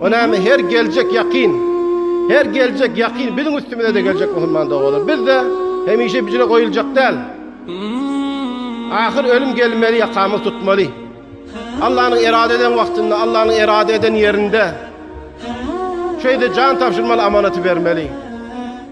O näme her geljek ýakyn. Her geljek ýakyn biziň üstümize-de geljek musulman doganlar. Biz-de hemişe bicre goýuljak däl. Ahyr ölüm gelmeli ýakamyz tutmaly. Allanyň erade eden wagtynda, Allanyň erade eden ýerinde şeýde jan tabşyrmaly amanaty bermeli.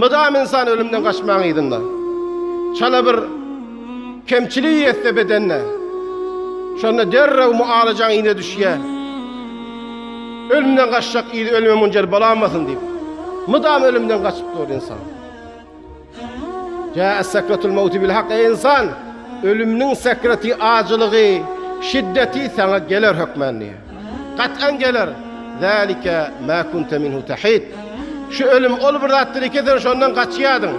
Mydam ynsan ölümden gaçmaň yzynda. Çala bir kemçilik ýetse bedende, şonda derrew mualajaň yza düşýär. Ölümden gaçjak yzy ölüme munjer bolamasyn diýip, mydam ölümden gaçyp dur ynsan. Jaet sekratul mawti bil hak, eý ynsan, ölümniň sekraty, ajylygy, şiddeti saňa geler hökmän diýýär. Gat'an geler. Zalika ma kunta minhu tahid. Şu ölüm ol bir zatdyr ki sen şondan gaçýardyň.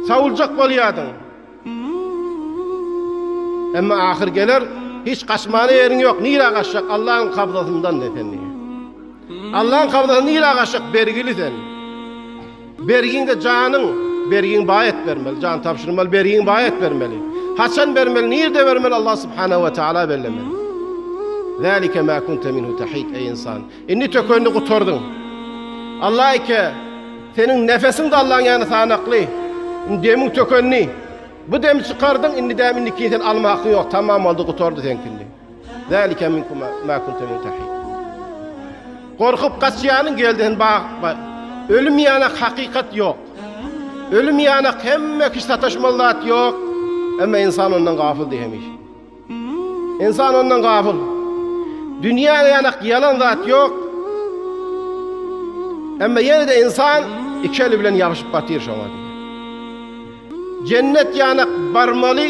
Sawuljak bolýardyň. Emma ahyr geler, hiç gaçmana ýeriň ýok. Nirä gaçjak? Allahyň kabzasyndan de sen. Allahyň kabzasyndan nirä gaçjak? Bergili sen. Bergiňde janyň, bergiňi baý et bermeli, jan tabşyrmaly, bergiňi baý et bermeli. Haçan bermeli, nirde bermeli Allah subhanahu we taala bellemeli. Zalika ma kunta minhu tahid eý insan. Indi tökenini gutardyň. Allah eke seniň nefesiň de Allahyň ýany sanakly. Indi demiň tökendi. Bu demi çykardyň, indi dämi indikini sen alma hakyň ýok. Tamam boldy, gutardy seňkindi. Zalika minkum ma kunta min tahid. Gorkup gaçýanyň geldi hen bag. Ölüm ýanak hakykat ýok. Ölüm ýanak hemme kişi sataşmaly zat ýok. Emma insan ondan gafyl diýemiş. Insan ondan gafyl. Dünýä ýanak ýalan zat ýok. Emma ýene-de insan iki eli bilen ýabyşyp batyr şoňa. Jennet ýanak barmaly.